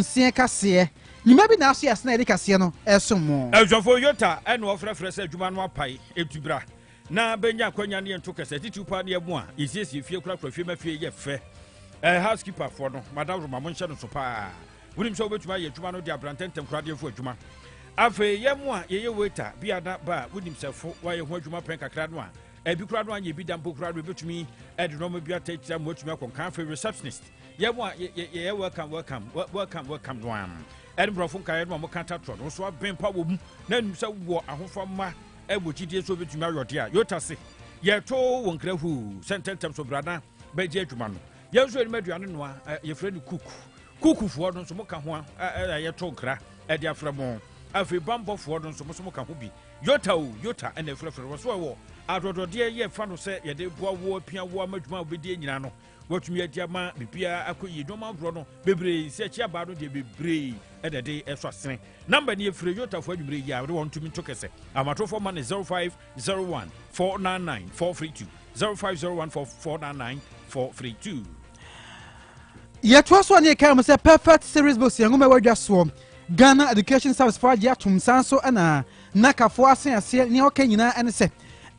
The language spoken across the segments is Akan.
nseɛ kaseɛ. Nwuma bi na aso yɛ ase na yɛde kaseɛ no resom mo. Ɔsɔfo Yota na ɔfrɛfrɛ sɛ adwuma no apae enti bra na bɛnya akwanya ne yɛnto kasa. Titiriw paa ne yɛn a yɛsiesie fie korakora fie ma fie yɛ fɛ. Eh, housekeeper foɔ no, Madam Roma, monhyɛ no so paa. Wonim sɛ wobɛtumi ayɛ adwuma no de abra ntɛntɛm koraa de afu adwuma. Afei yɛn mo a yɛyɛ waiter, bia na ba a wonim sɛ fo wayɛ ho adwuma pɛn kakra no a, ebi koraa no anyɛ bi da mpo koraa no, yɛbɛtumi de nneɛma bi atɛ akyire ama watumi akɔ nkan. Afei receptionist. yɛ mu a yɛyɛ welcome welcome welcome welcome no am ɛne borɔfo nkaeɛ no a wɔka tatorɔ no nso abɛn pa wɔ mu na nim sɛ wɔ ahofa ma ɛwɔ gyidie so bɛtumi ayɔde a yota se yɛto wɔ nkra huu sɛ ntɛntɛm so brana bɛgye adwuma no yɛn nso anim aduane noa yɛfrɛ no kuku kukufoɔ no nso moka ho a yɛto nkra ɛde afrɛ mo afei bambɔfoɔ no nso mo so moka ho bi yota o yota ɛna ɛfrɛfrɛ wɔ so ɛwɔ adɔdɔdeɛ yɛ fa no sɛ yɛde boa wo apia wo ama adwuma a wobɛdie nyinaa no wɔatumi adi ama biribiara akɔ yie nneɛma ahoroɔ no bebree sɛ akyi abaa no deɛ bebree ɛna ɛde ɛsɔ asene namba ne yɛfiri yotafoɔ adwumerɛ yi a wode wɔn tumi nto kɛsɛ amatofoɔ ma ne 0501 499 432 0501 499 432 yɛtoa so a ne yɛkae mu sɛ perfect series books yɛn nwoma ɛwɔ adwa soɔ ghana education service fo agye atom san so ɛna Ná Kafo ase aseɛ, nea ɔka nyinaa ne sɛ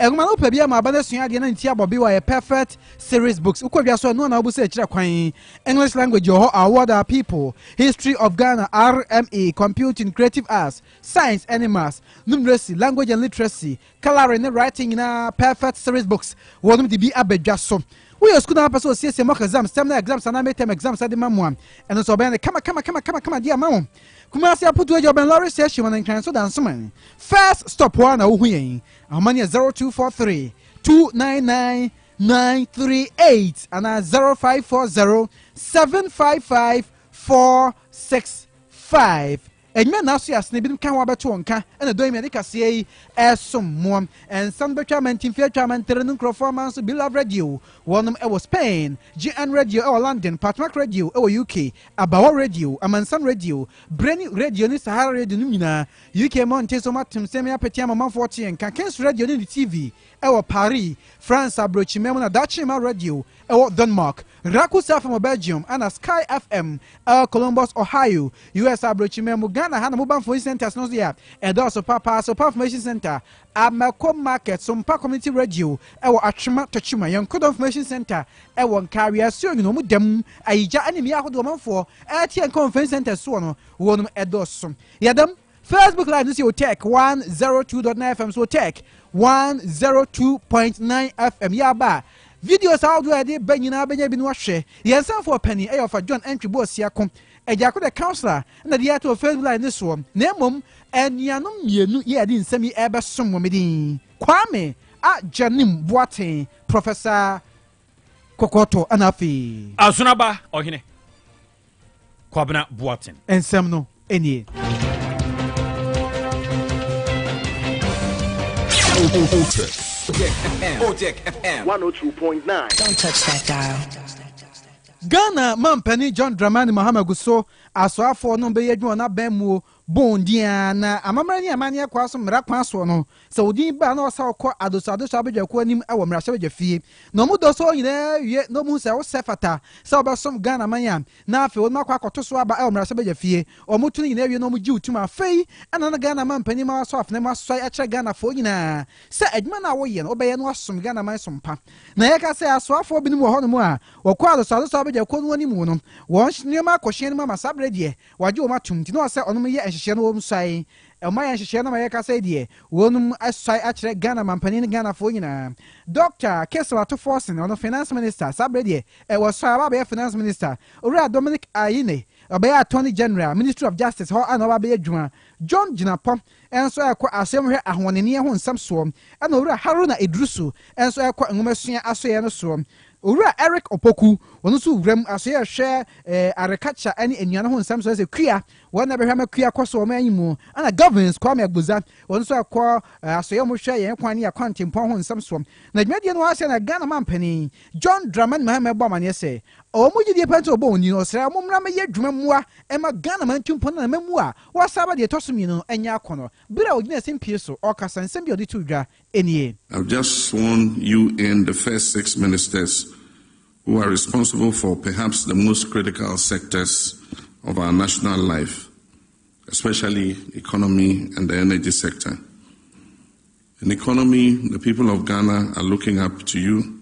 nwoma no wopɛ biara ma aba no asua adeɛ na ne ti abɔ bewa yɛ perfect series books wokɔ dwa so a ɛno na wobu sɛ ɛkyerɛ kwan English language wɔ hɔ award our people history of Ghana RME computing creative arts science ɛne maths numeracy language and literacy colouring ne writing nyinaa perfect series books wɔnom de bi aba dwa so woyɛ sukuu na apɛ sɛ osiesie mock exams terminal exams anaa midterm exams de ma mu a ɛno nso ɔbɛyɛ no kama kama kama kama kama de ama wo Kumasi Aputu Agya Ɔbɛn Lɔre Station ma no Nkran so Dansoman first stop hɔ ara na wohu yɛn. Ahoma no yɛ zero two four three two nine nine nine three eight anaa zero five four zero seven five five four six five. Enyimɛ na aso yɛ asene binom ka ho abɛto wɔn ka ɛna dɔn mi ade kaseɛ yi ɛsom moa. Ɛnsa no bɛtwa amantinfie atwa amantere no nkurɔfoɔ aman so Bilove Radio wɔnom ɛwɔ Spain, GN Radio ɛwɔ London, Patmak Radio ɛwɔ UK Abawɔ Radio, Amansan Radio, Breni Radio ne Sahara Radio nom nyinaa. UK mmɔnten so moatem sɛ me apete ama ɔmanfoɔ te yɛn nka. Kings Radio ne ne TV wɔ Paris, France abrɔkyima mu na Daakye Mma Radio wɔ Denmark, Rakusa FM wɔ Belgium ɛna Sky FM wɔ Columbus, Ohio, US abrɔkyima mu. Ghana ha na Mobile Information Centres no nso yɛ a ɛdɔɔso paapaa, Sopa Information Centre Amako Market, Sompa Community Radio wɔ Atwema, Tokyima, Yenkodo Information Centre wɔ Nkaa, Wiase Onwunu, wɔn da mu, Ayigya ne mmea ahodoɔ ɔmanfoɔ ɛte Yenka wɔn Information Centre soɔ no, wɔnom ɛdɔɔso. Yɛda mu. Facebook Live no si wɔ Tech 102.9 FM so wɔ Tech 102.9 FM yɛ aba a videos ahodoɔ a yɛde ba nyinaa bɛnya bi no ahwɛ. Yɛn sanfoɔ panin ɛyɛ ɔfa John Antwi Boasiako. Agya ko de councilor na de ato first line no soɔ na mmom anuanom mmienu yi a yɛde nsɛm yi rebɛsom wɔn din, Kwame Agyenim Boateng, Professor Kɔkɔɔtɔ ɛna afei. Azonaba Ɔhene Kwabena Boateng. Nsɛm no nie. Ojek FM. Ojek FM. 102.9. Don't touch that dial. Ghana Manpanin John Dramani Mahama gu so Asoafoɔ no bɛyɛ adwuma wɔn aban muo bon din ara na amammerɛ ne amanneɛ kwan so mmara kwan soɔ no sɛ wo din ba a na wɔsa wo kɔ Adosoa Adosoa Abadwakuo anim wɔ mmarahyɛbadwa fie na wɔn dɔ sɛ wɔn nyinaa wie na wɔn hu sɛ wo sɛ fata sɛ wo bɛsom Ghana man a na afei wɔn akɔ akɔto so aba wɔ mmarahyɛbadwa fie wɔn to no nyinaa wie na wɔn gye wo tum afei na na Ghana Manpanin ma wɔasɔ afena mu asoae akyerɛ Ghanafoɔ nyinaa sɛ adwuma no a wo yɛ no wo bɛyɛ na wɔasom Ghana man som pa na yɛka sɛ Asoafoɔ binom wɔ hɔnom a Wɔkɔɔ asɔsɔadɔsɔ abɛgya kuo no wɔn animuo no, wɔn nneɛma kɔ hyɛn no mu ama saa berɛ deɛ wɔagye wɔn atom nti na ɔsɛ ɔnom yɛ nhyehyɛɛ no wɔnom suae. Ɛmma yɛn nhyehyɛɛ no ama yɛrekasa yi deɛ wɔnom asuae akyerɛ Ghana manpanin ne Ghanafoɔ nyinaa. Dɔkta Kessel Ato Forson ɔno Finance Minister saa berɛ deɛ wɔasuae aba abɛyɛ Finance Minister. Owura Dominic Ayine ɔbɛyɛ Attorney General, Ministry of Justice, hɔ ɛna ɔba abɛyɛ adwuma. John Gyinapɔ nso ɛkɔ asɛm hwɛ ahoɔdenneɛ ho nsɛm soɔ, ɛna Owura Haruna Iddrisu nso ɛkɔ nwomasua asoɛeɛ no soɔ. Owura Eric Opoku, ɔno nso Wura mu asoɛeɛ hwɛ arecature ɛne nnuane ho nsɛm soɔ, ɛsɛ kua, wɔn na ɛbɛhwɛ ama kua kɔ so wɔ ɔman yi mu, ɛna Govins Kwame Agbodza, ɔno nso ɛkɔ asoɛeɛ mu hwɛ yɛn kwan ne akwantempɔn ho nsɛm soɔ. Na dwumadie no ase na Ghana manpanin John Dramani Mahama ɛbɔ amaneɛ sɛ, wɔn gyedie paa nti na wɔbɔ wɔn din, ɔsrɛ wɔn mmra mmɛyɛ adwuma mmoa mma Ghana mantumpɔn ne n'amammuo a Warsaba deɛ ɛtɔ so mmienu no anya akɔnnɔ bere a ɔgyinaa simpie so ɔrekasa, nsɛm bi a ɔde too dwa nie. I've just sworn you in the first six ministers who are responsible for perhaps the most critical sectors of our national life, especially economy and the energy sector. In economy, the people of Ghana are looking up to you.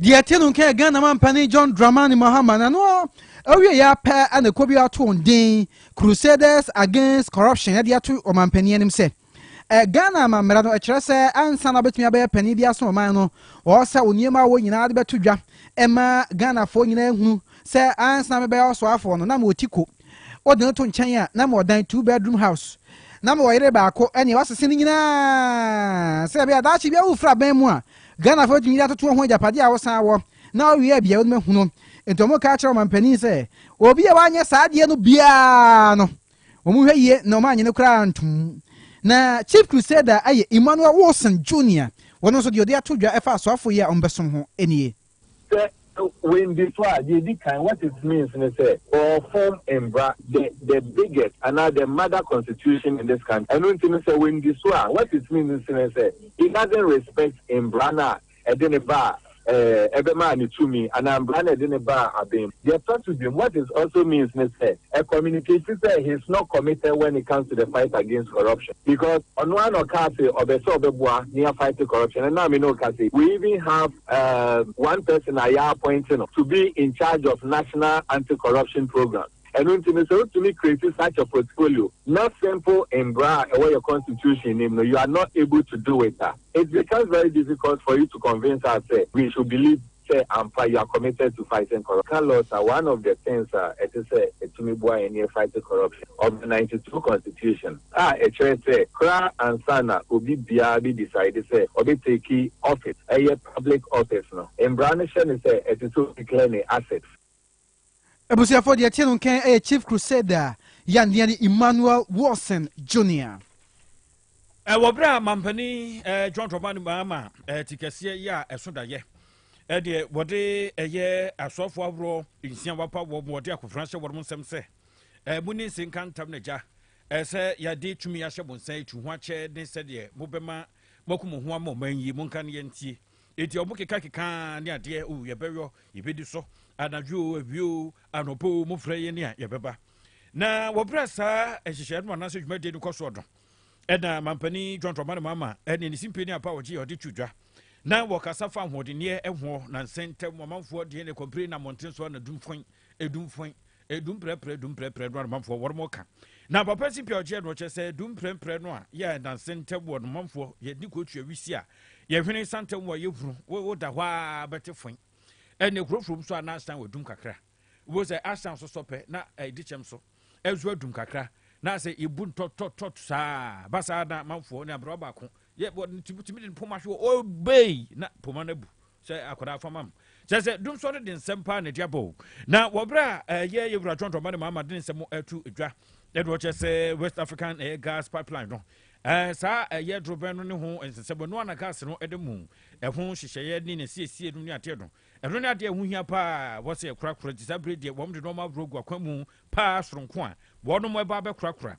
Deɛ ɛte no nka yɛ Ghana mampanin John Dramani Mahama na no awie yɛ apɛ na ɛkɔ bi ato wɔn den Crusaders Against Corruption de ato ɔmampanin anim sɛ eh, Ghana amammara no ɛkyerɛ sɛ ansa na ɔbɛtumi abɛyɛ panin bi aso ɔman no wɔwɔ sɛ onneɛma a wɔ nyinaa de bɛto dwa ɛma Ghanafoɔ nyinaa hunu sɛ ansa na mebɛyɛ ɔsoafoɔ no na mewɔ ti ko Wode no to nkyɛn a, na mewɔ dan two bedroom house. Na mewɔ yere baako ne wasese no nyinaa sɛ ɛbɛyɛ daakye bi awofra aban mu a, Ghanafo betumi de atoto ho agyapade a wosan wɔ na wowie a biawo no bɛhu no. Enti wɔn ka kyerɛ ɔmanpanin sɛ obi a wanyɛ saa adeɛ no biara no, wɔn hwɛ yie na wɔn anyɛ no koraa ntom. Na Chief Crusader yɛ Emmanuel Wilson Junior, wɔn nso deɛ ɔde ato dwa ɛfa asoafo yi a wɔbɛsom ho nie. Sɛ wɔandi so a, deɛ ɛdi kan, what it means ne sɛ, wɔrefom mmara, the the biggest anaa the mother constitution in this country. Ɛno nti no, sɛ wɔandi so a, what it means ne sɛ, he doesn't respect mmara no a ɛde no ba a ɛɛ ɛbɛmaa no tumi anaa mmara no a ɛde no ba a aben mu. Deɛ ɛtɔ so biom, what it also means ne sɛ, ɛ communicate sɛ he is not committed when it comes to the fight against corruption because ɔno ara na ɔkaa se ɔbɛ sɛ ɔbɛboa ne yɛafight corruption. Ɛnna me ne wo ka se, we even have. um one person a yɛapɔinte no to be in charge of national anti-corruption programme. Ɛno nti no, sɛ wotumi create such a portfolio na simple mmara a ɛwɔ yɛn constitution no mu no, you are not able to do it a, it becomes very difficult for you to convince us sɛ we should believe sɛ ampa you are committed to fighting corruption. Ka laws a, one of the things a ɛte sɛ ɛtumi boa yɛn ne yɛfight corruption of the ninety two constitution. a ɛkyerɛ sɛ koraa ansa na obi biara bi decide sɛ ɔbɛ take office, ɛyɛ public office no, mmara no hyɛ no sɛ ɛsɛ sɛ ɔdi clear ne assets. Abusuafoɔ deɛ ɛte no nkɛn yɛ Chief Crusader Yandiani Emmanuel Wilson Junior. Wɔ berɛ a mampanin John Dramani Mahama ti kɛseɛ yɛ a ɛso dayɛ ɛdeɛ wɔde ɛyɛ asɔfoɔ ahoroɔ nsia wapa wɔ wɔde akofena hyɛ wɔn nsɛm sɛ ɛmu ne nse nka ntam na gya Ɛyɛ sɛ yɛde tumi ahyɛ mo nsa atu ho akyɛ ne sɛdeɛ mobɛma moaku mo ho ama ɔman yi. Monka ne yɛntie. Enti ɔmo kekakeka ara ne adeɛ, O yɛbɛyɔ, yɛbɛdi so, anadwo o, awia o, anɔpa o, mofrɛ yɛn a yɛbɛba. Na wɔ berɛ a saa nhyehyɛeɛ no anaasɛ dwumadie no kɔ soɔ no, ɛna Mampanin John Dramani Mahama ne ne simpie ne apa a ɔgye a ɔde to dwa na wɔkasa fa ahoɔdenneɛ ho, nansa ntam ɔmanfoɔ deɛ ne kɔmpire na mmɔnten so anadumfɔn, edumfɔn, Edum prɛprɛ dum prɛprɛ no anumanfoɔ wɔn ka. Na papa si pɛ ɔgyeɛ no ɔkyɛ sɛ dum prɛprɛ no a yɛ ɛdanse ntɛm wɔ anumanfoɔ yɛ di kɔ tua wisi a yɛ hwene sa ntɛm wɔ yɛ hunu wo wo da hɔ a bɛte fɔn ɛne kurofrom so a na asan wɔ dum kakra wo sɛ asan so sɔ pɛ na ɛdi kyɛm so ɛzo adum kakra na sɛ ibu ntɔtɔtɔt saa basa na manfoɔ ne abrɛ baako yɛ bɔ ne tumi tumi de ne poma hwɛ o obey na poma no abu sɛ akwadaa fama mu kyerɛ sɛ dum sɔre de nsɛm paa na ɛde abɔ o na wɔbrɛ a ɛyɛ eh, yɛ wura twɔntɔn ma ne maama de ne nsɛm atu dwa ɛde wɔkyɛ sɛ west african ɛyɛ eh, gas pipeline no ɛɛ eh, saa ɛyɛ dorobɛn no ne ho nsesɛm ɛno ana gas no ɛde mu ɛho nhyehyɛeɛ ne ne siesie no ne adeɛ no ɛno ne adeɛ ɛho hia paa wɔsɛ ɛkorakora gye saa bere deɛ wɔn de nɔɔma aburo gu akwan mu paa soronko a wɔn ɛba abɛkorakora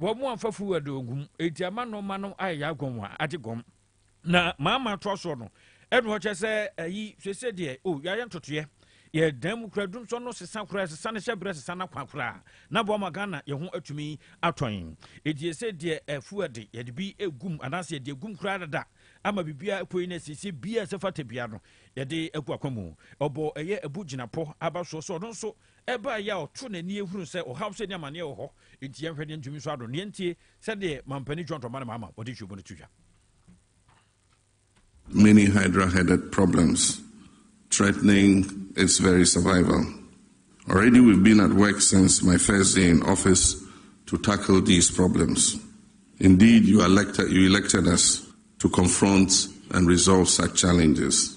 Wɔn mu afafo wɔ de ogum, enti ama nneɛma no ayɛ yɛ agɔn wɔn agye gɔm. Na maama toa soɔ no, ɛna ɔkyɛ sɛ ayi sese deɛ o yɛayɛ ntotoeɛ yɛ dan mu kura dumsɔ no sesa kura sesa ne hyɛ berɛ sesa na kwan kura na boa ma Ghana yɛ ho atumi atɔn eti ɛsɛ deɛ ɛfu ɛde yɛde bi egum anaasɛ yɛde egum kura dada ama bibia ɛpoi na ɛsiesie bia ɛsɛ fata bia no yɛde agu akwa mu ɔbɔ ɛyɛ ɛbu gyinapɔ aba soɔ sɛ ɔno nso Ɛbaa yi a ɔtoo n'ani hunu sɛ ɔhaw sɛ nni amanneɛ wɔ hɔ, enti yɛnhwɛ deɛ ntumi nsɔ ano. Yɛntie sɛdeɛ Mampanin John Tɔmba ne Maama wɔde nhyiamu no to dwa. Many hydra-headed problems threatening its very survival. Already we've been at work since my first day in office to tackle these problems. Indeed you elected us to confront and resolve such challenges.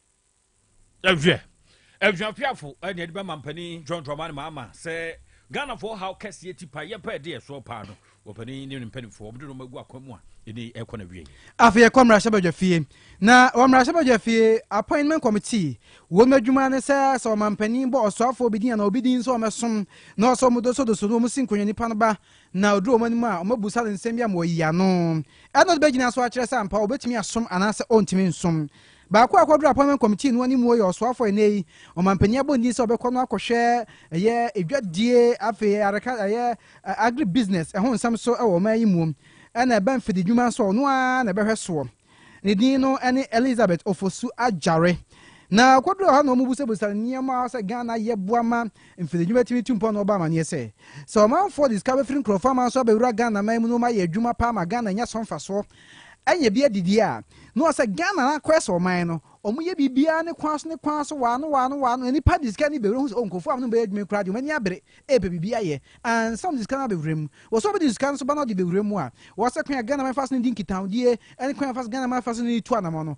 ɛhwɛ aduapeafo ɛna ɛde bɛma mpanin john dramani maama sɛ ghanafoɔ haw kɛseɛ ti pa yɛpɛ ɛde ɛsoɔ paa no wɔpanin ne ne mpanimfoɔ wɔde nɔma agu akwan mu a ɛne ɛkɔ no awie afei yɛkɔ mmarahyɛbadwa fie na wɔ mmarahyɛbadwa fie appointment committee wɔn adwuma ne sɛ sɛ ɔmampanin bɔ ɔsoafoɔ bi din anaa obi din sɛ ɔmɛsom na ɔsɛ ɔmo dosodoso no ɔmo si nkonnwa nipa no ba na ɔduru ɔmo anim a ɔmo abusa no nsɛm bi ama ɔyi ano ɛna ɔde bɛgyina so akyerɛ sɛ ampa ɔbɛtumi asom anaasɛ ɔntumi nsom Baako a ɔkɔduru Appointment Committee no anim wɔ yɛ ɔsoafoɔ ɛnnɛ yi. Ɔmanpanin abɔ ne din sɛ ɔbɛkɔ no akɔhwɛ ɛyɛ edwadie, afei ɛyɛ areka, ɛyɛ agri business ɛho nsɛm so wɔ ɔman yi muom, ɛna ɛbɛ mfididwuma nso a ɔno ara na ɛbɛhwɛ soɔ. Ne din no ne Elizabeth Ofosu Agyare. Na ɔkɔduruu hɔ na wɔbusabusaa no nneɛma a sɛ Ghana yɛ boa ma mfididwuma tumi tu mpɔn na ɔbɔ amaneɛ sɛ, sɛ ɔmanfoɔ de sika bɛfiri nkurɔfoɔ aman so abɛwura Ghana man mu na wɔayɛ adwuma paa ma Ghana anya so mfasoɔ. Ɛnyɛ bi adidi a na ɔsɛ Ghana na akɔyɛ sɛ ɔman no ɔmo yɛ biribiaa ne kwan so ne kwan so wɔ ano wɔ ano wɔ ano na nipa de sika ani bɛwura hu sɛ oh nkurɔfoɔ a ɔmo ne mo bɛyɛ adwuma yi koraa deɛ ɔmo ani abere ɛɛpɛ biribi ayɛ ansa na ɔmo de sika no abɛwura mu wɔ sɛ ɔbɛde sika no nso ba na ɔde bɛwura mu a wɔ sɛ kwan a Ghana man fa so ne di nkitahodie ɛne kwan a yɛfa so Ghana man fa so ne di tu anamɔ no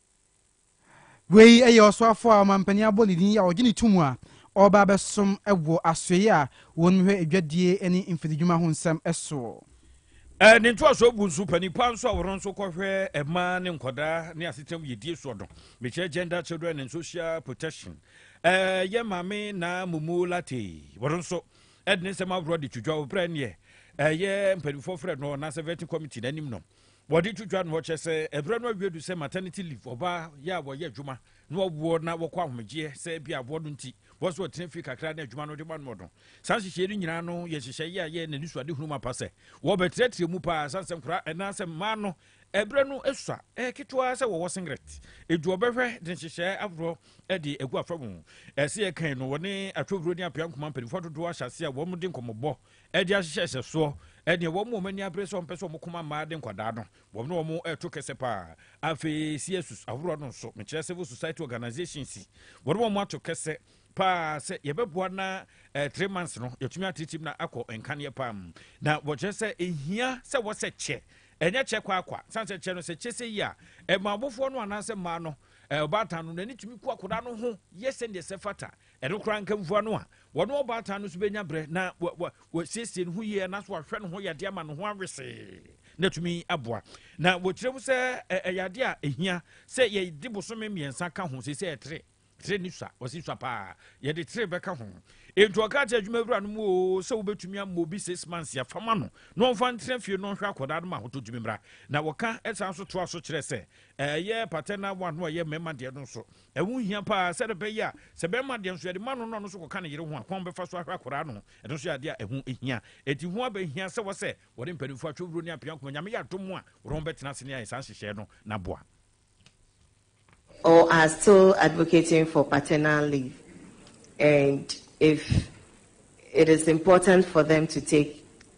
Wei yɛ ɔsoafo a ɔmampanin abɔ ne din a ɔgye no tom a ɔreba abɛsom wɔ asoɛe a wɔhwɛ adwadie ne mfiridwuma ho nsɛm soɔ. Ne ntoasoɔ gu nso, panin pa nso a ɔno nso kɔhwɛ mmaa ne nkwadaa ne asetram yiedie soɔ no, mekyerɛ Gender, Children and Social Protection, yɛ Maame Naa Mumu Lartey, ɔno nso de ne nsɛm ahoroɔ de to dwa wɔ berɛ a ɛnneɛ ɛyɛ mpanimfoɔ frɛ no anaasɛ Vetting Committee no anim no. wɔde to dwa no wɔkyerɛ sɛ ɛberɛ no awie du sɛ maternity leave ɔbaa yɛ a wɔyɛ adwuma na wɔwoɔ na wɔkɔ ahomegyeɛ sɛ bi aboɔ no nti wɔn so wɔtena fie kakra na adwuma no de ma noɔ no saa nhyehyɛeɛ no nyinaa no yɛ nhyehyɛeɛ yɛ a yɛ n'ani so adehunu ma pa sɛ wɔbɛtrɛtrɛ mu paa sane sɛ nkora ɛnaa sɛ mmaa no ɛberɛ no sua ɛyɛ ketewa sɛ wɔwɔ singlet edu ɔbɛhwɛ de nhyehyɛeɛ ahoroɔ de agu afa mu ɛsɛ yɛ kan no wɔne atwowuro ne apea nkoma mpanimfoɔ dodoɔ ahyɛ ase a wɔn de nkɔmmɔbɔ ɛde ahyehyɛ hyɛsoɔ ɛdeɛ wɔn wɔn ani abere sɛ wɔn pɛ sɛ wɔn kɔma mmaa de nkwadaa no wɔn ne wɔn ɛreto kɛsɛ paa afei CSUs ahoroɔ no nso mekyerɛ civil society organisations wɔn wɔn ato kɛsɛ paa sɛ yɛbɛboa na eh, three months no yɛtumi atetem na akɔ nkaneɛ paa mu na wɔkyerɛ sɛ ɛhia sɛ wɔsɛ kyɛ ɛnyɛ kyɛ kwaakwa sane sɛ kyɛ no sɛ kyɛ sɛ yi a ɛma abofoɔ no anaasɛ mmaa no eh, ɔbaatan no n'ani tumi ku akwadaa no ho yɛ sɛdeɛ sɛ fata Ɛno koraa nka mfua no a wɔne ɔbaatan no nso bɛnya berɛ na wɔasiesie ne ho yie anaasɛ wɔahwɛ ne ho yadeɛ ama ne ho awesee na atumi aboa na wɔkyerɛ mu sɛ ɛyɛ adeɛ a ɛhia sɛ yɛde bosome mmiɛnsa ka ho sɛ sɛ ɛtere tere ne sua ɔsi sua paa yɛde tere bɛka ho enti ɔka kyerɛ adwuma awura no mu o sɛ wobɛtumi ama obi six months yɛfama no na ɔmfa ntena fie no ɔhwɛ akɔdaa no ma ahotɔ tumi mmra na wɔka ɛsan so toa so kyerɛ sɛ ɛyɛ patɛna wa no ɔyɛ mmarima deɛ no nso Ɛho hia paa sɛdeɛ ɛbɛyɛ a sɛ bɛrima deɛ nso yɛde ma no na ɔno nso kɔka ne yere ho a, kwan bɛfa so ahwɛ akwadaa no. Ɛno nso yɛ adeɛ a ɛho hia. Enti ho aba hia sɛ wɔ sɛ wɔde mpanimfoɔ atwe wuro ne apia akoma. Nyame yɛ adom a, wɔde wɔn bɛtena ase ne ayɛ saa nhyehyɛɛ no na aboa. Or are still advocating for paternal leave and if it is important for them to take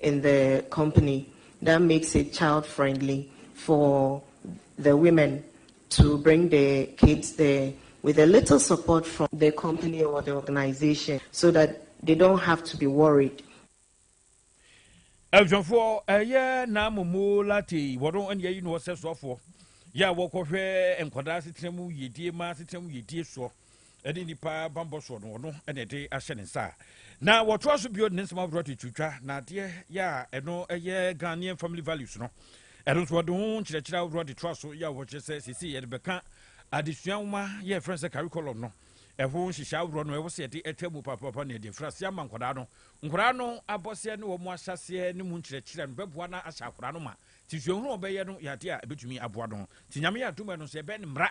in the company that makes it child friendly for the women to bring the kids there with a little support from the company or the organization so that they don't have to be worried. Abusuafoɔ ɛyɛ n'amomo late wɔn ɛna yɛyi no ɔsɛ soafoɔ yɛ a wɔkɔhwɛ nkwadaa asetena mu yiedie ma asetena mu yiedie soɔ. ɛne nnipa bammɔ soɔ no ɔno ɛna ɛde ahyɛ ne nsa na wɔtoa so bio ne nsɛm ahodoɔ de twitwa na adeɛ yɛ a ɛno ɛyɛ ghanaian family values no ɛno nso wɔde ho nkyerɛkyerɛ ahodoɔ de toa so yɛ a wɔkyerɛ sɛ sisi yɛde bɛka adesua nwoma yɛ ɛfrɛ sɛ curriculum no ɛho nhyehyɛ ahodoɔ no ɛwɔ sɛ yɛde ɛtwa mu papaapa ne yɛde mfiri aseɛ ama nkwadaa no nkwadaa no abɔseɛ ne wɔn ahyɛseɛ ne mu nkyerɛkyerɛ no bɛboa no ahyɛ akwadaa no ma ti suahunu wɔn bɛyɛ no yɛ adeɛ a ɛbɛtumi aboa no ti nyame yɛ adom ɛno nso yɛbɛn mmara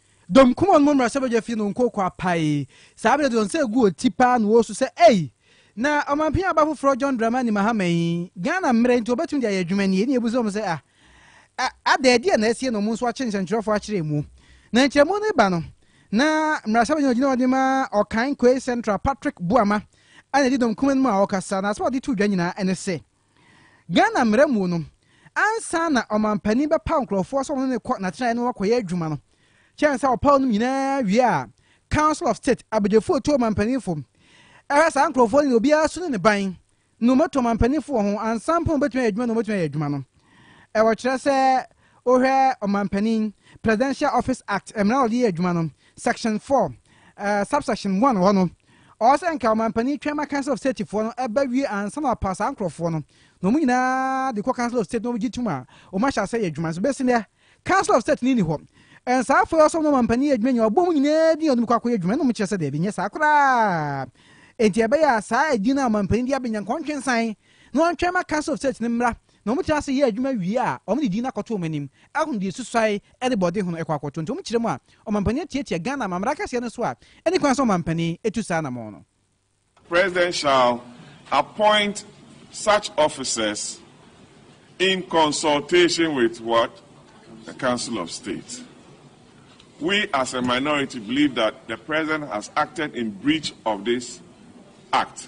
Dɔm kumaa no mu mmarahyɛbadwa fii no nkokoa paee. Saa bere no de wɔn nsa guu wɔn ti paa na wɔresu sɛ, Ei! Na ɔmanpanyin aba foforo John Dramani Mahama yi, Ghana mmere nti obetumi de ayɛ adwuma ni? Ɛnna yebisaa wɔn sɛ, Ah, ah, adɛn? Ɛdeɛn na asie na wɔn nso akye nsɛnkyerɛwfo akyerɛ mu? Na nkyerɛmu no reba no, na mmarahyɛbadwani a ogyina hɔ de ma Ɔkan Koei Central, Patrick Boamah, na edi dɔm kumaa no mu a ɔrekasa, na asɛm a ɔde too dwa nyinaa ne sɛ, Ghana mmara mu no, ansa na ɔmampanin bɛpaw nkurɔfoɔ sɛ wɔne no kɔ n'atenaeɛ na wɔakɔyɛ adwuma no, kyɛn sɛ ɔpaw nom nyinaa wie a, Council of State, abadwafoɔ a ɛtu ɔmampaninfo, ɛhwɛ saa nkurɔfoɔ no na obiara su ne ne ban na wɔatu ɔmampaninfo wɔ ho ansa mpo na wɔbɛtumi ayɛ adwuma na wɔbɛtumi ayɛ adwuma no. Ɛwɔ kyerɛ sɛ Wohwɛ Ɔmanpanin, Presidential Office Act, mmara a wɔde yɛ adwuma no, Section four, eh, Subsection one wɔ hɔ no, ɔwɔ sɛ nka Ɔmanpanin twɛn ma Council of State foɔ no ɛba wie ansa na ɔpa saa nkorɔfoɔ no, na wɔn nyinaa de kɔ Council of State na wɔgye tom a wɔn ahyɛ aseɛ yɛ adwuma no. So bɛsi nnɛ, Council of State no nni hɔ? Ɛn saa afoɔ yi ɔsɛ wɔn na Ɔmanpanin yɛ adwuma nyinaa, ɔbɔ wɔn nyinaa din a wɔde bɛkɔ akɔyɛ adwuma no, wɔn kyerɛ sɛ daabi, nyɛ saa koraa. Enti ɛbɛyɛ a saa edin no a Ɔmanpanin de abɛnya nka ɔntwe nsan na ɔntwɛn ma Council of State no mmra na wɔtra ase yɛ adwuma wie a, wɔde din no akɔto wɔn anim ahunu deɛ ɛsusuae de bɔɔden ho no kɔ akɔto. Nti wɔn kyerɛ mu a, Ɔmampanin atiatia Ghana Amammerɛ Akɛseɛ no so a ɛnni kwan sɛ Ɔmampanin tu saa anamɔn no. President shall appoint such officers in consultation with what? The Council of State. We as a minority believe that the President has acted in breach of this Act.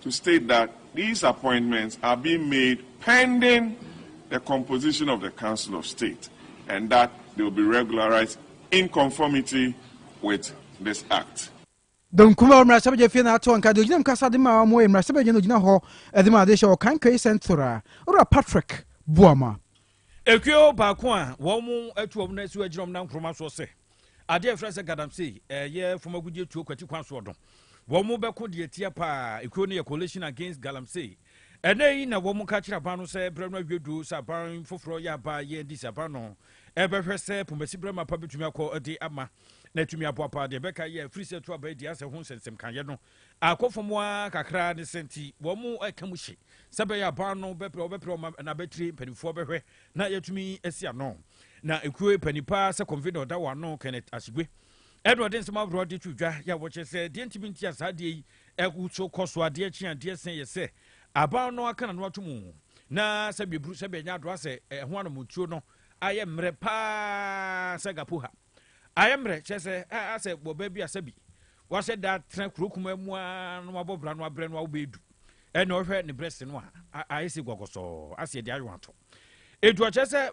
to state that these appointments are being made pending the composition of the Council of State and that they will be regularized in conformity with this Act. Benkum a mmarahyɛbadwa fie na ato nka de ogyinam kasa de ma wɔn yɛ mmarahyɛbadwa na ogyina hɔ de ma adehyɛ wɔ Kankɛyi Central, Owura Patrick Boamah. Ekuo baako a wɔatu wɔn asi agyina wɔn nan nkoroma soɔ sɛ adeɛ a ɛfrɛ sɛ Galamsey ɛyɛ fam agudeɛ tuo kwati kwan soɔ no, wɔn bɛko deɛ tia paa. Ekuo no yɛ Coalition Against Galamsey. Ɛnɛ yi na wɔn ka kyerɛ aban no sɛ berɛ no awie duru sɛ aban foforɔ yɛ aba yɛ adi sɛ aban no ɛbɛhwɛ sɛ Pomasi Brɛmapa bɛtumi akɔ de ama na atumi aboa paa. Deɛ ɛbɛka yɛ firi sɛ ɛto aba adi asɛ ho nsɛnsɛm kaeɛ no. Akɔ fam ara kakra ne sɛ nti wɔreka mu hye sɛ ɛbɛyɛ aban no bɛpere wɔbɛpere wɔn na abɛtire mpanimfoɔ bɛhwɛ na yɛatumi asi ano. Na ekuo panin paa sɛ convener ɔda wɔn ano Kenneth Asegwe ɛna ɔde nsɛm ahoroɔ de to dwa yɛ a wɔkyerɛ sɛ deɛ ntumi nti a saa adeɛ yi ɛso kɔ so adeɛ kye adeɛ sɛn yɛ sɛ aban no aka n'ano ato mu na sɛbi eburu sɛbi ɛnyɛ adoa sɛ ɛho anamɔtuo no ayɛ mmerɛ paa sɛ gapo ha. Ayɛ mmerɛ kyerɛ sɛ ɛɛ sɛ wɔ baabi a sɛbi wahyɛ da tena kuro kuma mu ara na wabɔ bra no abrɛ no awobɛyɛ du ɛna ɔhwɛ ne brɛ se no a ayɛ sɛ gɔgɔsɔɔ aseɛ de ayɛ ato etu ɔkyɛ sɛ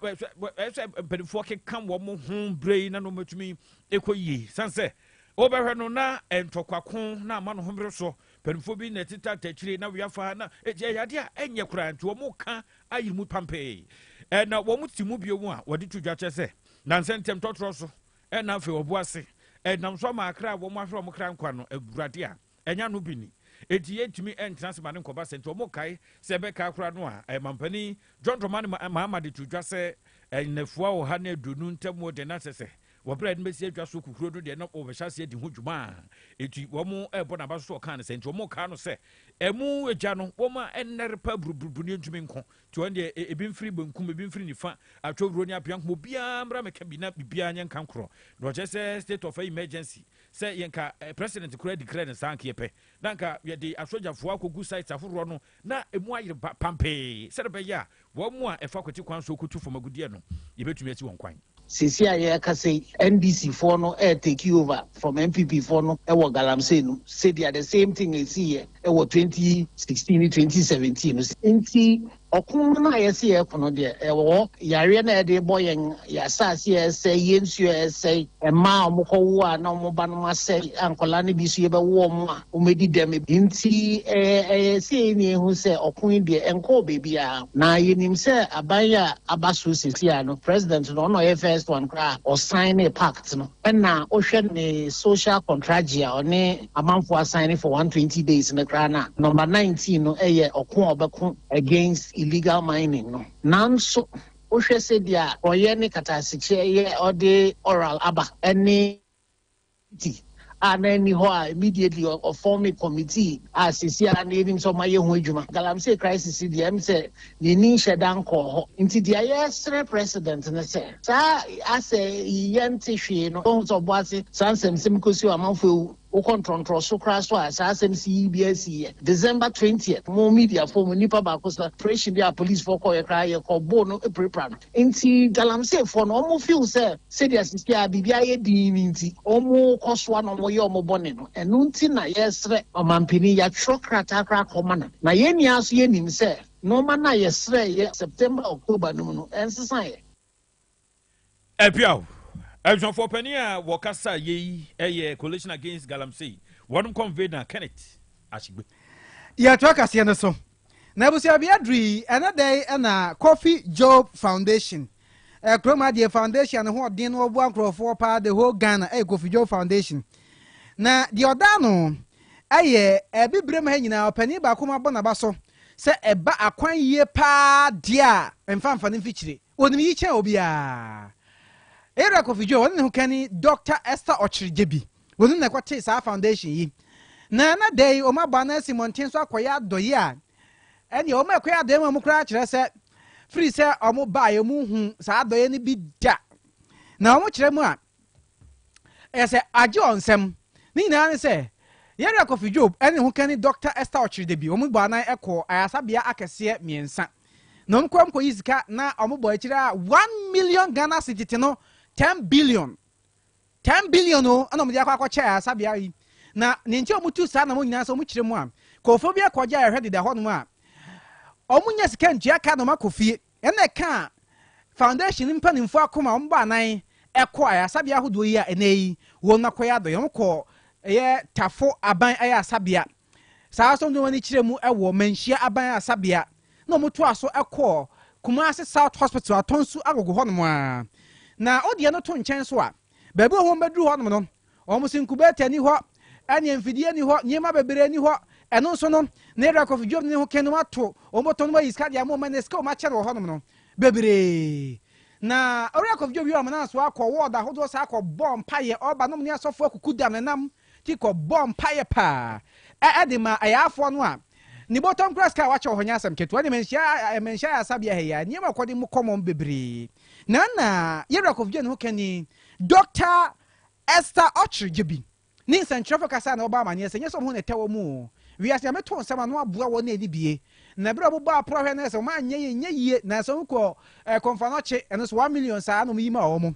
ɛsɛ mpanimfoɔ keka wɔn ho brɛ yi na no mɛtumi ɛkɔ yie san sɛ wobɛhwɛ no na ntɔkwako na ama no homere so mpanimfoɔ bi na ɛteta takyire na weafa na ɛyɛ adeɛ a ɛnyɛ koraa nti wɔn ka ayere mu pampee ɛna wɔn ti mu bio mu a wɔde to dwa kyɛ sɛ Nansa ntɛm tɔtrɔ so ɛna afei ɔbo ase ɛnam so ama akra a wɔn ahwere wɔn kra nkwa no agurade a ɛnya no bi ni eti yɛntumi ɛntena ase ma ne nkɔba sɛ nti wɔn kae sɛ ɛbɛka akora no a ɛmampanin John Dramani Mahama de to dwa sɛ ɛnafua ɔha ne aduonu ntɛm wɔ deɛ n'asɛ sɛ wɔbrɛ ɛde bɛsi adwa so kukuro no deɛ na wɔbɛhyɛ aseɛ di ho dwuma a eti wɔn ɛbɔ n'aba so ɔkaa no sɛ nti wɔn kaa no sɛ ɛmu egya no wɔn a ɛnɛre pa buruburu ne ntumi nko Nti wɔn deɛ, e, ebi mfiri benkum, ebi mfiri nifa, Atwowuro ne Apeankum, obiara mmra mmɛka bi na biribiara nyɛ nkankorɔ. Na wɔkyerɛ sɛ state of emergency, sɛ yɛ nka eh, president koraa declare no saa anka yɛpɛ, na anka yɛde asogyafoɔ akɔgu sites ahoroɔ no na emu ayere ba pampee sɛdeɛ ɛbɛyɛ a wɔn a ɛfa kwati kwan so kɔtu fam agudeɛ no, yɛbɛtumi asi wɔn kwan. Seesei a yɛrekasa yi, NDC foɔ no ɛɛ take over from NPP foɔ no wɔ Galamsey no, sɛdeɛ the same thing ɛsiiɛ wɔ 2016 ne 2017 no. Nti ɔko no a yɛse yɛreko no deɛ ɛwɔ hɔ, yareɛ no a yɛde rebɔ yɛn, yɛn asase a ɛresɛe, yɛn nsuo a ɛresɛe, mmaa a wɔkɔwo a na wɔn ba nom asɛe a nkwadaa no bi nso yɛbɛwo wɔn a, Wɔadi dɛm. Enti ɛyɛ sɛ yɛn nyinaa hu sɛ ɔko yi deɛ, ɛnkɔɔ baabiara. Na yɛnim sɛ aban yi a aba so seesei no, President no, ɔno na ɔyɛ first one koraa a ɔsaenee pact no. Ɛna wohwɛ ne social contragye a ɔne amanfoɔ asaene for 120 days no koraa no a, number 19 no yɛ ɔko a ɔbɛko against illegal mining no. Nanso wohwɛ sɛdeɛ porɔeɛ ne kataasikyeɛ yɛ ɔde oral aba ne. Committee a na ɛnni hɔ a immediately ɔ ɔ formed committee a seesei ara na yɛnim sɛ wɔayɛ ho adwuma. Galamsey crisis yi deɛ ɛm sɛ ne ani nhyɛ da nkɔɔ hɔ. Nti deɛ yɛresrɛ President ne sɛ saa asɛ yi yɛnte hwee no wahu sɛ ɔbɔ ase saa nsɛmsɛm yi kɔsi hɔ amanfoɔ awu. Wokɔ ntorɔntorɔ so koraa so a saa asɛm si yi biara siiɛ. December twentieth mo mediafoɔ mu nnipa baako sɛ operation bi a policefoɔ kɔeɛ koraa yɛkɔboo no pirapira no. Ntsi Galamseefoɔ no, wɔn feel sɛ sɛdeɛ sisi ara biribi ayɛ dinn no ntsi, wɔn kɔ soa na wɔn yɛ wɔn bɔne no. Ɛno ntsi na yɛresrɛ Ɔmanpanin, yɛatwerɛ krataa koraa akɔ ma no, na yɛn nyinaa nso yɛnim sɛ nnoɔma no a yɛsrɛeɛ September, October no mu no, ɛnsesaeɛ. Apiaw abusuafoɔ panin a wɔkasa yɛ yi yɛ Coalition Against Galamsey, wɔn convener Kenneth Ashigbe. Yɛtoa kaseɛ no so. N'abusuabea duru yi, ɛnnɛ da yi na Kofi Job Foundation, Kurom Adeɛ Foundation a ne ho ɔden na wɔboa nkurɔfoɔ paa the whole Ghana yɛ Kofi Job Foundation. Na deɛ ɔda ano yɛ Abibirem ha nyinaa ɔpanin baako ma bɔ n'aba so sɛ ɛba akwan yie paa deɛ a mfa mfa no mfikyire. Onim iyi kyɛn obiara. Era Kofi Djo, wɔne ne ho kanni Dɔkta Esther Okyere Gyebi. Onim na ɛkɔtee saa foundation yi. Na ɛnnɛ da yi, wɔabɔ anan asi mmɔnten so akɔyɛ adɔyɛ a ɛnneɛ wɔn a ɛkɔyɛ adɔyɛ ma wɔn koraa kyerɛ sɛ firi sɛ wɔn baeɛ wɔn nhu saa adɔyɛ no bi da. Na wɔn kyerɛ mu a ɛyɛ sɛ agye wɔn nsam. Ne nyinaa ne sɛ Yɛrɛ Kofi Djo ne ne ho kanni Dɔkta Esther Okyere Gyebi wɔn bɔ anan kɔɔ ayaresabea akɛseɛ mmiɛnsa. na wɔn kɔ nkɔyi sika na wɔn bɔ akyire a one million ghana cedi te no ten billion ten billion o ɛna wɔn de akɔ akɔkyɛ a sabea yi na ne nti wɔn tu saa na wɔn nyinaa sɛ wɔn kyerɛ mu a kɔfo bi akɔgye a ɛhwɛ deda hɔ nom a wɔn nyɛ sika ntua ka na wɔn akɔ fie ɛna ɛka foundation mpanimfo akoma wɔn bɔ anan ɛkɔ ayasabea ahodoɔ yi a ɛnɛ yi wɔn akɔyɛ adɔyɛ wɔn kɔ ɛyɛ tafo aban ayasabea Saa ara nso na wɔn ani kyerɛ mu wɔ Manhyia Aban Ayarasabea na wɔtoaa so kɔɔ Kumasi South Hospital Atɔnsu Agogo hɔnom ara. Na wo deɛ no to nkyɛn so a, baabi wɔ hɔ wɔbɛduru hɔnom no, wɔn se incubator ni hɔ, ɛne mfidie ni hɔ, nneɛma bebree ni hɔ. Ɛno nso no, na Ira Kofi Dwom ne ho ken no ato wɔn bɔtɔ no ayi sika de ama wɔn ɛnɛ sika wɔn akyɛ no wɔ hɔnom no bebree. Na Ira Kofi Dwom yi wɔn nam so akɔ wɔɔd ahodoɔ saa akɔbɔ mpaeɛ ɔba nom ne asɔfoɔ akuku dam nenam Jacob bɔɔ mpaeɛ paa de maa ayaafoɔ no a ne bɔtɔm kura sika a wakyɛ wɔ hɔ nyɛ asɛm ketewa. Ne mmanhyia ayaresabea ha yi ara, nneɛma a wɔkɔde mu kɔmmɔm bebree na na Yeriakov gye ne ho kani, Dɔkta Esther Ocher Djebi, ne nsɛnkyerɛwfo kasa a na wɔbɔ amanneɛ sɛ ɛnyɛ sɛ wɔn ho na ɛtɛ wɔn o, wiase nyame too nsɛm ano aboa wɔn na ɛni bie. Na bere a wɔbobɔɔ aporɔhwɛ no sɛ wɔn anyɛ yɛ nyɛ yie, nanso wɔn kɔɔ Konfanoche, ɛno nso one million saa na wɔyi maa wɔn.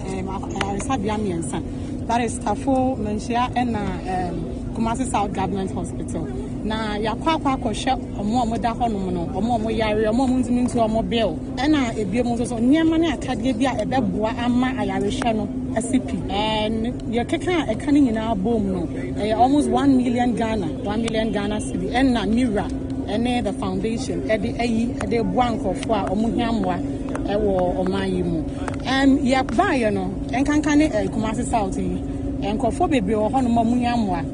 um, ayaresabea mmiɛnsa. That is Kafo, Manhyia, ɛna um, Kumasi South Government Hospital. Na yɛakɔ akɔ akɔhwɛ ɔmo a ɔmo da hɔnom no, ɔmo a ɔmo yare, ɔmo a ɔmo ntumi ntua ɔmo bill. Ɛna ebien mu nso so nneɛma ne akadeɛ bi a ɛbɛboa ama ayarehwɛ no asi pi. Ɛn yɛkeka a ɛka ne nyinaa bom no, ɛyɛ almost one million Ghana, one million Ghana cedi. Ɛna Mira ɛne the foundation ɛde ayi ɛde boa nkorɔfoɔ a ɔmo hia mmoa ɛwɔ ɔman yi mu. Ɛn yɛ baayɛ no nkanka ne ɛɛ Kumasi south yi nkorɔfoɔ bebree wɔ hɔ nom a ɔmo nya mmoa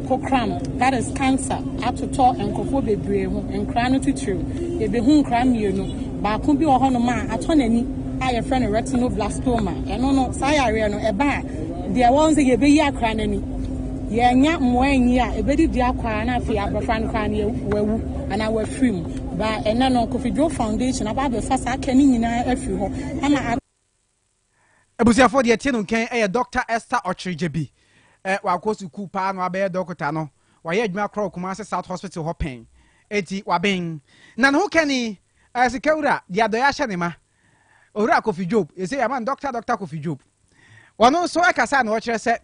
kokram that is cancer atotɔ nkorɔfoɔ bebree ho nkraa no titiriw yɛbehu nkraa mmienu baako bi wɔ hɔ nom a atɔ n'ani a yɛfrɛ no retinoblastoma ɛno no saa yareɛ no ɛba a deɛ ɛwɔ hɔ no sɛ yɛbeyi akora no ani yɛannya mmoa anyi a ɛbedi dua kɔ ara na afei abɔfra no koraa no wawu anaa wafiri mu. Ba ɛnɛ no Kofi Dwoo Foundation aba abɛfa saa kɛ no nyinaa afiri hɔ ama. Abusuafoɔ deɛ ɛte no nkɛn ɛyɛ Doctor Esther Ɔkyere Gyabi. Wakɔ sukuu paa na wabɛyɛ dɔkota no, wayɛ adwuma korɔ wɔ Kumasi South Hospital hɔ pɛn. Enti waben. Na ne ho kani, Sikawura de adɔeɛ ahyɛ ne ma, Owura Kofi Dwoob. Yɛsɛ yɛama no Doctor Doctor Kofi Dwoob. Ɔno nso ɛkasa na ɔkyerɛ sɛ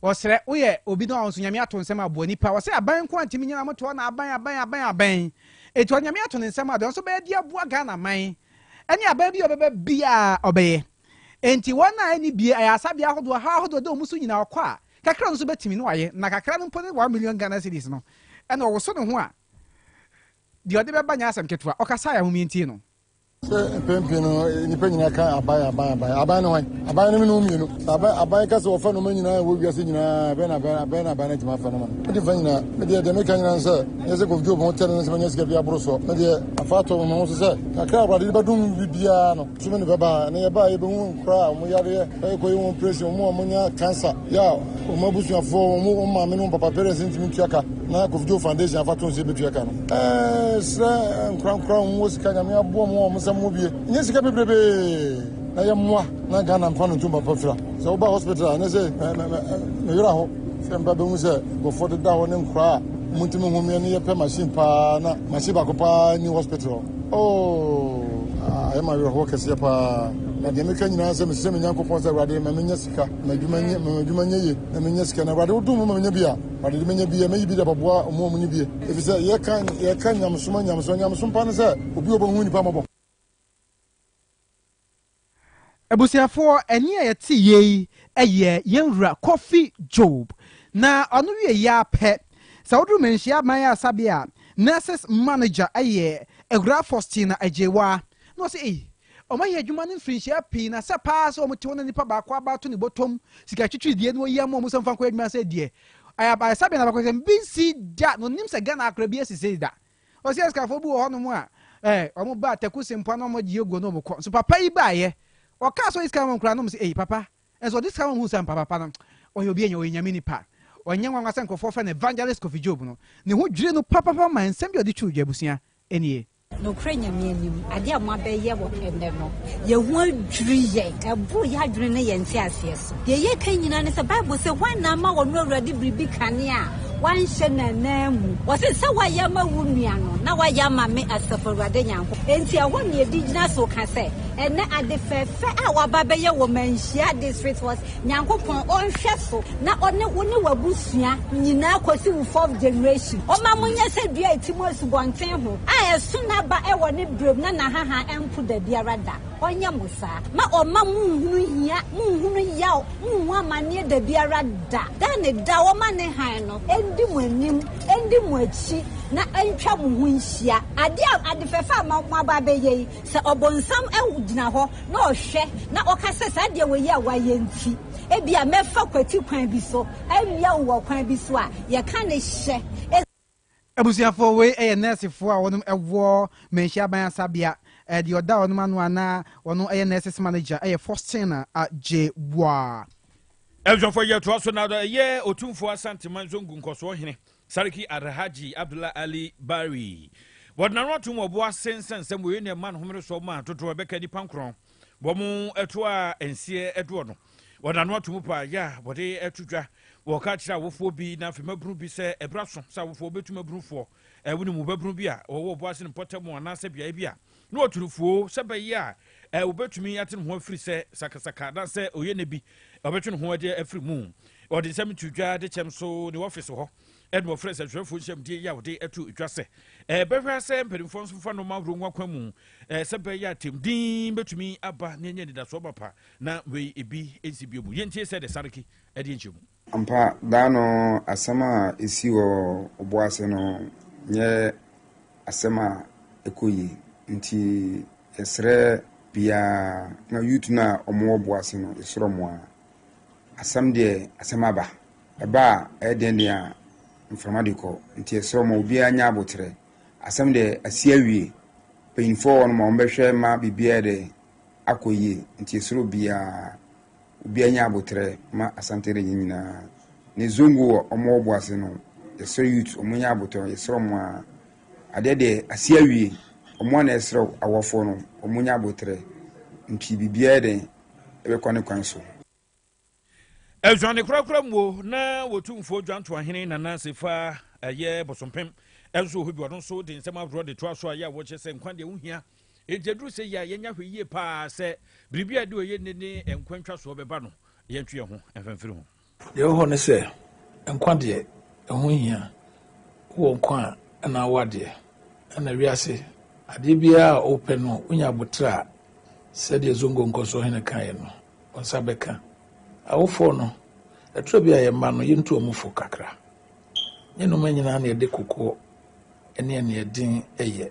Ɔsrɛ, Woyɛ obi no a ɔnso Nyame ato nsɛm aboa nipa? Ɔse, Aban nko a ntimi nyina mo toɔ na aban aban aban aban. Eti ɔde Nyame ato ne nsɛm a deɛ ɔnso bɛyɛ de aboa Ghana man ɛne aban bi a ɔbɛba biaa ɔbɛyɛ. Enti wɔn a ɛni bie ayaarsabea ahodoɔ haw ahodoɔ da ɔmo so nyina ɔkɔ a kakra ɔno nso bɛtimi na wayɛ na kakra no mpo ne one million Ghana cedis no ɛna ɔwoso ne ho a deɛ ɔde bɛba nyɛ asɛm ketewa. Ɔkasaeɛ a momie ntie no. Sɛ mpɛn pii no nnipa nyinaa ka aban aban aban aban no hwan aban no no mmienu sɛ aban aban ka sɛ wɔfa noma nyinaa ɛwɔ wiase nyinaa ɛbɛn na aban abɛn na aban no atumi afa noma no mede fa nyinaa medeɛ deɛ meka nyinaa sɛ nyɛ sɛ kɔfdwo ɔbɛho tɛne no sɛ manya sika bi aboro soɔ medeɛ afa atɔ me ho so sɛ kakra awurade de bɛdom bibiaa no so me ne bɛba ne yɛbaa yɛbɛhu nkoraa ɔmo yareɛ ɛkɔyɛ wɔn operation ɔmo a ɔmonya cancer yɛ a ɔmo abusuafoɔ ɔmo ɔmo maame no papa parents ntumi ntua ka na kɔfdwo foundation afa to sɛ yɛbɛtua ka no ɛsrɛ nkorankora wɔn wɔ sika nyame aboɔ mu wɔn nsɛm mu bie nyɛ sika bebrebee na yɛ mmoa na ghana mfa no ntom papa fira sɛ woba hospital a ne sɛ meyera hɔ sɛ mba bɛhu sɛ nkurɔfoɔ deda hɔ ne nkoraa a montumi ho meɛ ne yɛpɛ machine paa na machine baako paa ni hospital oh ayɛ ma werɛhoɔ kɛseɛ paa na deɛ meka nyinaa sɛ mesrɛ me nyankopɔn sɛ awurade ma menyɛ sika madwuma nyɛ ye na menyɛ sika na awurade wodom ma menya bi a awurade de menya bi a mɛyi bi de abɛboa ɔmo ɔmo ne bie Efisɛ yɛka yɛka nyamesom a nyamesom a nyamesom pa ne sɛ obi a ɔbɛhu nnipa mmɔbɔ. Abusuafoɔ, ɛnne a yɛte yei yɛ yɛn wura Kofi Job, na ɔno wie yi ara pɛ, sɛ woduru Manhyia Aban Ayaresabea a, nurses manager yɛ Awuraa Faustina Agyewa, na ɔse ei, wɔayɛ adwuma no mfirinhyia pii, na sɛ paa sɛ wɔte hɔ na nipa baako abaato ne bɔtɔm sika twitwiridie na wɔyi ama wɔn sɛ wɔmfa nkɔyɛ adwuma sɛ deɛ Ayabaresabea no abakɔsɛm bi nsi da na onim sɛ Ghana akora bi asi sei da. Ɔsi asikafoɔ bi wɔ hɔnom a eh, wɔn ba Taku Sempoa na wɔn gye aguo na wɔn kɔ. Nso papa yi baeɛ. Ɔkaa sɛ ɔyɛ sika ma wɔn nkura nom sɛ ei papa. Nso ɔde sika ma wɔn hu sɛ ampa papa no ɔyɛ obi anya ɔyɛ nyame nipa. Ɔnyɛ nwanwa sɛ nkurɔfoɔ frɛ no Evangelist Kofi Job no. Ne ho dwirii no papapapa ma nsɛm bi a ɔde twurugyɛ abusua nie. Nokorɛ Nyame anim, adeɛ a moabɛyɛ wɔ ɛnnɛ no, yɛn ho adwiri yɛn, ɛboro yɛn adwene ne yɛn nteaseɛ so. Deɛ yɛreka nyinaa ne sɛ, Bible se, Hwan na ama ɔno Awurade biribi kane a wanhyɛ n'ananmu? Ɔse, Sɛ woayɛ ama wo nua no, na woayɛ ama me, Asafo Awurade Nyankopɔn. Enti ɛhɔ na yɛde gyina so ka sɛ, Ɛnnɛ, ade fɛɛfɛ a wɔaba abɛyɛ wɔ Manhyia District Hospital, Nyankopɔn ɔnhwɛ so na ɔne wo ne w'abusua nyinaa kɔsi wo fourth generation. Ɔma mo nyɛ sɛ dua a ɛtim wɔ asubɔnten ho a ɛso n'aba wɔ ne berɛm na n'ahaha mpo dabiara da. Ɔnyɛ mo saa. Ma ɔmma monhunu hia, monhunu yaw, monhu amanneɛ dabiara da. Da ne da ɔma ne hann no ndi mo anim, ndi mo akyi na ɛntwa mo ho nhyia. Adeɛ a, ade fɛfɛ a moaba abɛyɛ yi, Sɛ Ɔbonsam gyina hɔ na ɔhwɛ na ɔka sɛ, Saa adeɛ wei yi a woayɛ nti, ebia mɛfa kwati kwan bi so awia wo wɔ kwan bi so a, yɛka ne hyɛ. Abusuafoɔ, wei yɛ nɛɛsefoɔ a wɔnom wɔ Manhyia Aban Asabea. Deɛ ɔda wɔnom ano a na ɔno yɛ Nurses Manager yɛ Faustina Agyebua. Abusuafoɔ, yɛtoa so na ɛyɛ Otumfoɔ Asante Manso Ngu Nkɔsoɔ Hene Sarki Alhaji Abdullah Ali Bari wɔ Nanoatom wɔ Boase nsɛnsɛm wei na ɛma no homeresoɔ ma dodoɔ ɛbɛka nnipa nkorɔn wɔn ɛto a nseɛ ɛdoɔ no wɔ Nanoatom pa yɛ a wɔde ɛto dwa wɔ ka kyerɛ awofoɔ bi na afei mabunu bi sɛ ɛbra so sɛ awofoɔ bɛtu mabunufoɔ ɛwo ne mu babunu bi a wɔwɔ Boase no mpɔtam anaasɛ beaeɛ bi a Ne ɔtorofuo, sɛ ɛbɛyɛ a eh, obetumi ate ne ho afiri sɛ sakasaka anaasɛ ɔyɛ nne bi, ɔbɛtwe ne ho de afiri mu. Ɔde nsɛm to dwa de kyɛm so ne ɔfese hɔ, ɛna ɔfrɛ nsɛntwerɛfoɔ nhyɛmdie yi a ɔde ato dwa sɛ ɛbɛhwɛ eh, sɛ mpanimfoɔ nso fa nnoɔma ahorow ho akwan mu eh, sɛ ɛbɛyɛ a tɛmdin bɛtumi aba na ɛnyɛ anidasoɔ mapa na wei ebi nsi bio mu. Yɛntie sɛ de sareki ɛde nkyɛmu. Ampa, daa no asɛm a esii wɔ ɔbo ase no nyɛ asɛm a ɛkɔ yie. Nti yɛsrɛ biaa na youth no a ɔmo wɔ bo ase no yɛsrɛ ɔmo aa asɛm deɛ asɛm aba, ɛba a ɛyɛ den den a mframa de kɔ. Nti yɛsrɛ ɔmo obiaa nyɛ aboterɛ. Asɛm deɛ asi awie, panyinfoɔ wɔ hɔ nom a ɔmo bɛhwɛ ma biribiaa ayɛ dɛ akɔ yie. Nti yɛsrɛ obiaa obiara nya aboterɛ ma Asante region nyinaa ne Zongo wɔ ɔmo ɔbo ase no yɛsrɛ youth ɔmo nya aboterɛ yɛsrɛ ɔmo a adeɛ deɛ asi awie ɔmo a na ɛsrɛ awɔfoɔ no ɔmo nya aboterɛ nti biribiara yɛ dɛn ɛbɛkɔ ne kwan so. Adwane korakora mu o na wɔtumfoɔ dwantoahene Nana Sefa ɛyɛ Bosompem nso wɔ hɔ bi ɔno nso de nsɛm ahoroɔ de toa so a yɛ a wɔkyɛ sɛ nkwa deɛ wohia Enti ɛduru sɛ yɛ a, yɛnyɛ ahwɛ yie paa sɛ biribi a ɛde ɔyɛ nne ne nkwa ntwasoɔ bɛba no, yɛntwe yɛn ho mfa mfiri ho. Deɛ ɛwɔ hɔ ne sɛ, nkwa deɛ, ɛho nhia. Wowɔ nkwa a, ɛna wowɔ adeɛ. Ɛna wiase, adeɛ biara a wopɛ no, wonya aboterɛ a, sɛdeɛ Zongo nkɔsoɔ hene kaeɛ no, wo nsa bɛka. Awofoɔ no, ɛtɔ bi a yɛn mma no, yɛntu wɔn fo kakra. Nyɛ nneɛma nyinaa na yɛde kokoɔ ɛne ɛnea ɛden yɛ.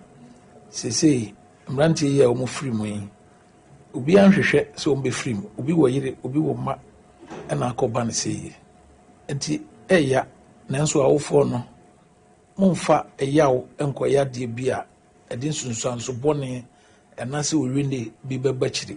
Seesei mmeranteɛ yi a wɔfiri mu yi, obiara nhwehwɛ sɛ wɔbɛfiri mu. Obi wɔ yere, obi wɔ mma na akɔba no sei yi. Enti ɛreya, nanso awofoɔ no, mommfa ɛyaw nnkɔyɛ adeɛ bi a ɛde nsunsuanso bɔne anaasɛ owinne bi bɛba akyiri.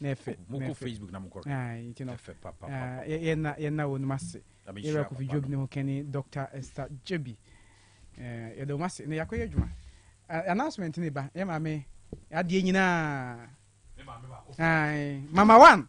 n'ɛfɛ mokɔ facebook na mokɔ nti no ɛfɛ papa yɛna yɛna wɔn mu ase yɛrɛ kofi job ne ho kɛne dr esther jobi yɛda wɔn ase na yɛakɔ yɛ adwuma announcement ne ba yɛ maame adeɛ nyinaa mama one